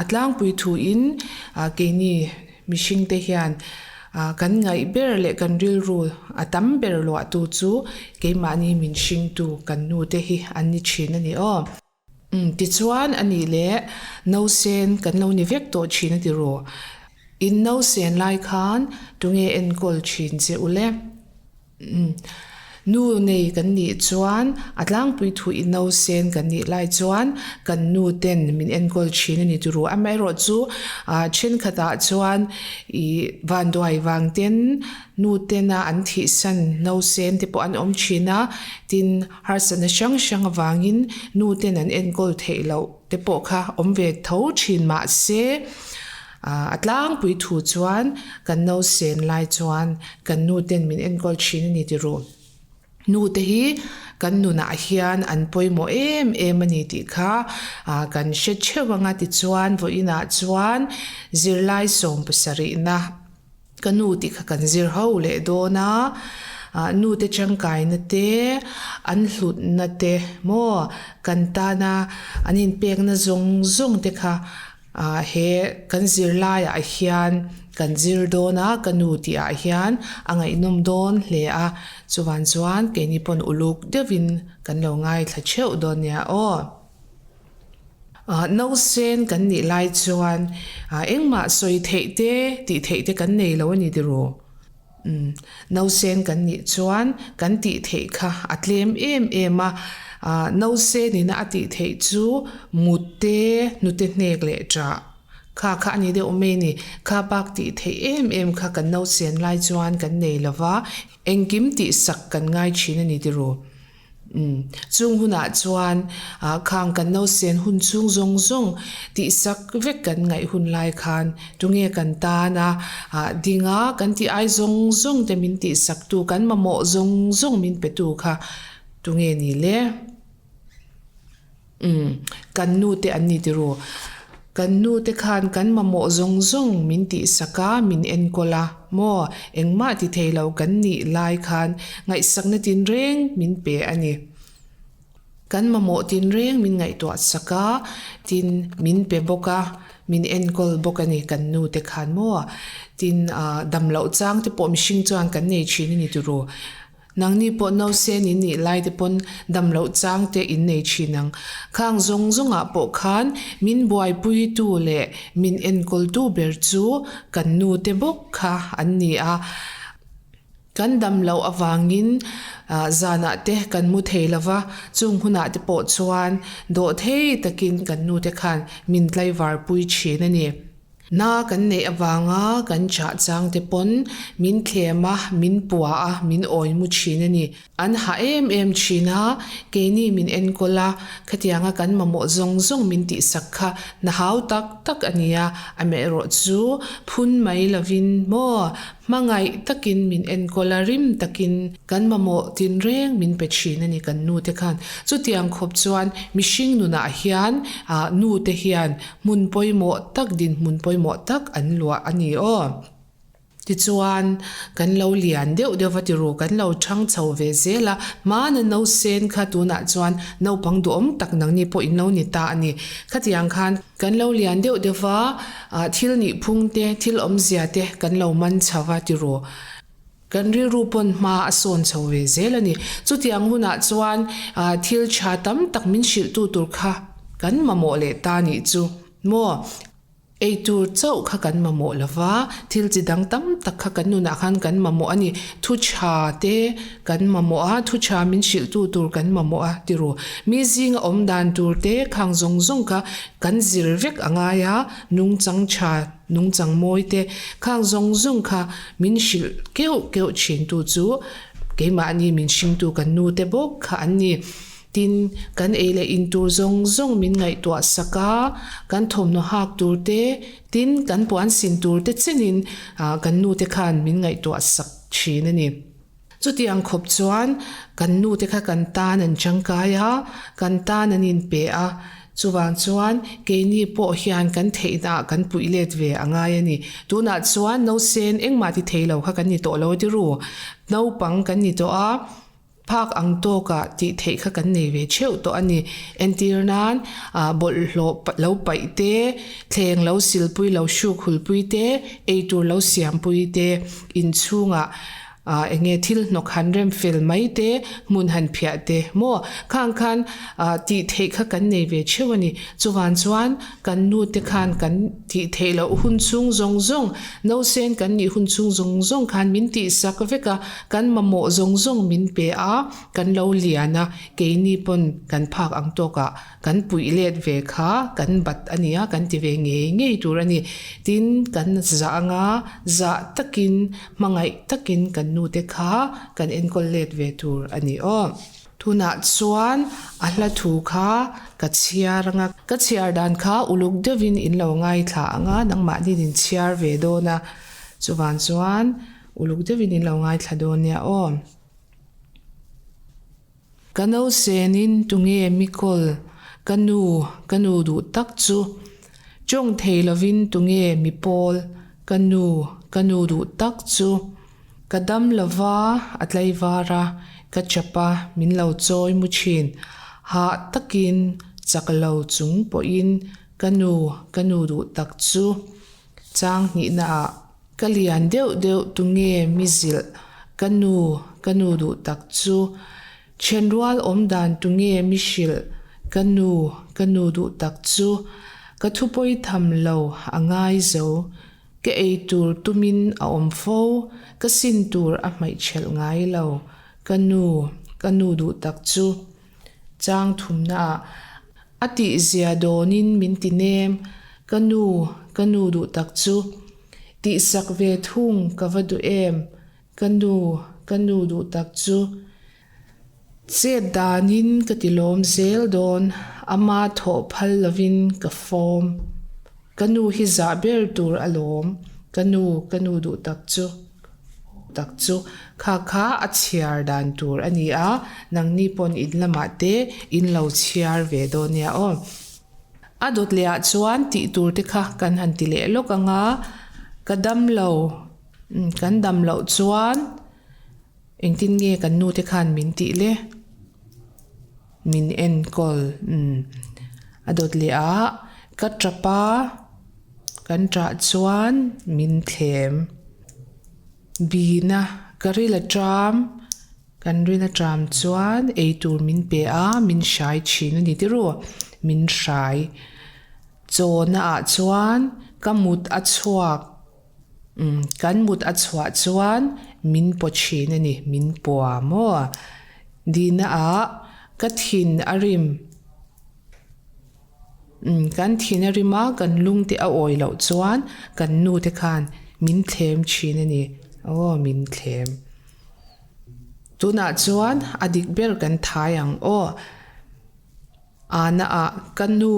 A tlangpui thuin keini mihringte hian kan ngaih ber leh kan rilru a tam ber luahtu chu keimahni min hringtu kan nute hi an ni thin a ni aw. Umm, tichuan a nih leh, Nosen kan lo ni vek tawh thin a ti rawh. In nosen lai khan tunge enkawl thin che ule. Nu nei kan nih chuan a tlangpui thu i no sen kan nih lai chuan kan nu ten min enkawl thin a ni turu amaherawh chu ah thenkhat ah chuan ih vanduai vang ten nu tena an thih san no sen te pawh an awm thin a tin harsatna hrang hrang avangin nu ten an enkawl theih loh te pawh kha awm ve tho thin mahse, A tlangpui thu chuan kan no sen lai chuan kan nu ten min enkawl thin a ni ti ru. Nu te hi kan nunah hian an pawimawh em em a ni tih kha kan hre theuh ang a tichuan vawiinah chuan zirlai sawm pasarihna, Ka nu tih kha kan zir ho leh dawn a, nu te tangkaina te, an hlutna te maw, kan tana an inpekna zawng zawng te kha he kan zir laiah hian kan zir dawn a, ka nu tih ah hian a ngaihnawm dawn hle a, chuvan chuan keini pawn uluk deuh in kan lo ngaithla theuh dawn nia aw. No sen kan nih lai chuan engmah sawi theih te, tih theih te kan nei lo a ni tiraw? Umm, no sen kan nih chuan kan tih theih kha a tlem em em a. No sen ina a tih theih chu mute, hnute hnek leh ta kha kha a ni deuh mai ni. Kha bak tih theih em em kha kan no sen lai chuan kan nei lova, engkim tihsak kan ngai thin a ni tiraw? Umm. Chung hunah chuan khang kan lo sian hun chhung zawng zawng tihsak vek kan ngaih hun lai khan tunge kan tan a, dinga kan tih ai zawng zawng te min tihsak tu, kan mamawh zawng zawng min pe tu kha tunge ni le? Umm, kan nu te an ni tiraw? Kan nu te khan kan mamawh zawng zawng min tih sak a, min enkawl a maw? Engmah ti thei lo kan nih lai khan ngaihsakna tinreng min pe a ni. Kan mamawh tinreng min ngaihtuah sak a, tin min pe bawk a, min enkawl bawk a ni kan nu te khan maw? Tin, aah, damloh chang te pawh mihring chuan kan nei thin a ni tiraw? Nangni pawh no se ni nih lai te pawn damloh chang te in nei thin ang. Khang zawng zawngah pawh khan min buaipui tu leh min enkawl tu ber chu kan nu te bawk kha an ni a. Kan damloh avangin zanah te kan hmu thei lo va, chung hunah te pawh chuan dawhthei takin kan nu te khan min tlaivar pui thin a ni. Hna kan neih avanga kan chahchang te pawn min thlem a, min pua a, min awi mu thin a ni. An hah em em thin a, keini min enkawl a, khatianga kan mamawh zawng zawng min tihsak kha hna hau tak tak a nia, amerawh chu phun mai lovin maw hmangaih takin min enkawl a, rim takin kan mamawh tin reng min pe thin a ni kan nute khan. Chutiang khawp chuan mihring nunah hian nute hian Hmun pawimawh tak dinhmun pawimawh tak an luah a ni aw. Tichuan, kan lo lian deuh deuh va ti ru, kan lo chhang chho ve zel a, hmana no sen kha tunah chuan naupang duhawm tak nangni pawh in lo ni ta a ni. Khatiang khan, kan lo lian deuh deuh va, thil nihphung te, thil awmzia te kan lo man chho va ti ru. Kan rilru pawn hma a sawn chho ve zel a ni. Chutiang hunah chuan thil tha tam tak min hrilhtu tur kha kan mamawh leh ta nih chu maw? Eitur chauh kha kan mamawh lo va, thil chi dang tam tak kha kan nunah khan kan mamawh a ni. Thu tha te kan mamawh a, thu tha min hrilhtu tur kan mamawh a ti ru. Mi zinga awm dan tur te khang zawng zawng kha kan zir vek a ngai a, nungchang tha, nungchang mawi te khang zawng zawng kha Min hrilh keuh keuh thintu chu keimahni min hringtu kan nute bawk kha an ni. Tin, kan ei leh in tur zawng zawng min ngaihtuah sak a, kan thawmhnaw hak tur te, tin, kan puan sin tur te chenin kan nute khan min ngaihtuah sak thin a ni. Chuti ang khawp chuan kan nu te kha kan tan an tangkai a, kan tan an in pe a, chuvang chuan keini pawh hian kan theih na ah kan puih let ve a ngai a ni. Tunah chuan no sen engmah ti thei lo kha kan ni tawh lo ti ru, naupang kan ni tawh a, phak ang tawk ah tih theih kha kan nei ve theuh tawh a ni. Entir nan ah bawlhhlawh lo paih te, thleng lo silpui, lo hruk hulpui te, eitur lo siampui te inchhung ah, Aah enge thil hnawk han rem fel mai te, hmun han phiah te maw? Khang khan aah tih theih kha kan nei ve theuh a ni. Chuvang chuan kan nu te khan kan tih theih loh hun chhung zawng zawng, nosen kan nih hun chhung zawng zawng khan min tih sak vek a, kan mamawh zawng zawng min pe a, kan lo lian a, keini pawn kan phak ang tawk a. Kan puih let ve kha kan bat a nia kan ti ve ngei ngei tur a ni. Tin, kan zah anga zah takin, hmangaih takin kan nu te kha kan enkawl let ve tur a ni aw. Tunah chuan a hla thu kha ka chhiar anga, ka chhiar dan kha uluk deuhin in lo ngaithla anga nangmahni'n in chhiar ve dawn a, chuvang chuan uluk deuhin in lo ngaithla dawn nia aw. Ka no senin tunge mi kawl ka nu ka nu duh tak chu tawng thei lovin tunge mi pawl ka nu ka nu duh tak chu ka dam lova a tlaivara ka chapa min lo chawi mu thin hah takin chak lo chung pawhin ka nu ka nu duh tak chu Chang hnihna ah ka lian deuh deuh tunge mi zilh ka nu ka nu duh tak chu then rual awm dan tunge mi hrilh ka nu ka nu duh tak chu ka thupawi tham lo a ngai zo ka ei tur tumin a awm fo ka sin tur a hmaihchhelh ngai lo ka nu ka nu duh tak chu Changthumna ah, a tih zia dawn in min ti nem, ka nu, ka nu duh tak chu, tih sak ve thung ka va duh em, ka nu, ka nu duh tak chu, chet dan in ka ti lawm zel dawn, ama thawh phal lo in ka fawm. Ka nu hi zah ber tur a lawm. Ka nu, ka nu duh tak chu, duh tak chu kha kha a chhiar dan tur a ni a, nangni pawn in lamah te in lo chhiar ve dawn nia aw. A dawt leh ah chuan tih tur te kha kan han ti leh lawk ang a, ka dam lo, umm, kan dam loh chuan Engtin nge kan nute khan min tih le min enkawl umm a dawt leh a, ka tapa kan tah chuan min thlem bina ka ri la ṭam, kan ri na ṭam chuan eitur min pe a min hrai ṭhin a ni tiraw min hrai chawna ah chuan ka mut a chhuak. Kan mut a chhuah chuan min paw thin a ni, min pua maw? Dina a, Ka thin a rim. Kan thin a rim a, kan lungte a awi loh chuan kan nu te khan min thlem thin a ni. Aw, min thlem. Tunah chuan a dik ber kan thai ang aw. Ana a, Ka nu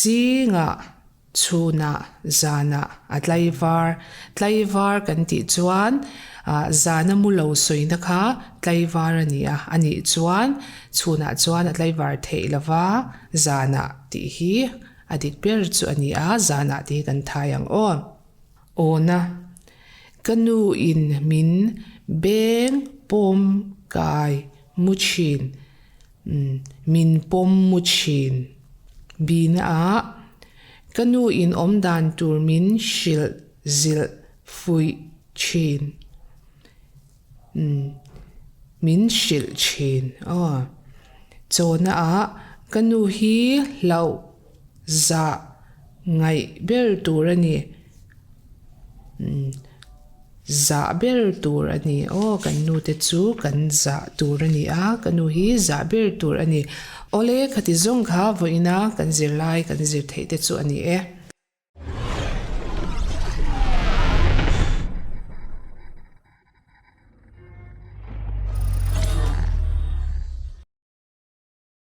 zingah Chhunah, zanah a tlaivar. Tlaivar kan tih chuan zana mulo sawina kha tlaivar a ni a, a nih chuan chhunah chuan a tlaivar theih lo va, zanah tih hi a dik ber chu a ni a, zanah tih hi kan thai ang aw. Awna, ka nu in min beng pawm kai mu thin. Min pawm mu thin. Bina ah ka nu in awm dan tur min hrilh zilh fuih thin. Min hrilh thin. Chawna ah ka nu hi hlauh zah ngaih ber tur a ni umm zah ber tur a ni aw kan nu te chu kan zah tur a ni a ka nu hi zah ber tur a ni awle khati zawng kha vawi ina kan zir lai kan zir theih te chu a ni e.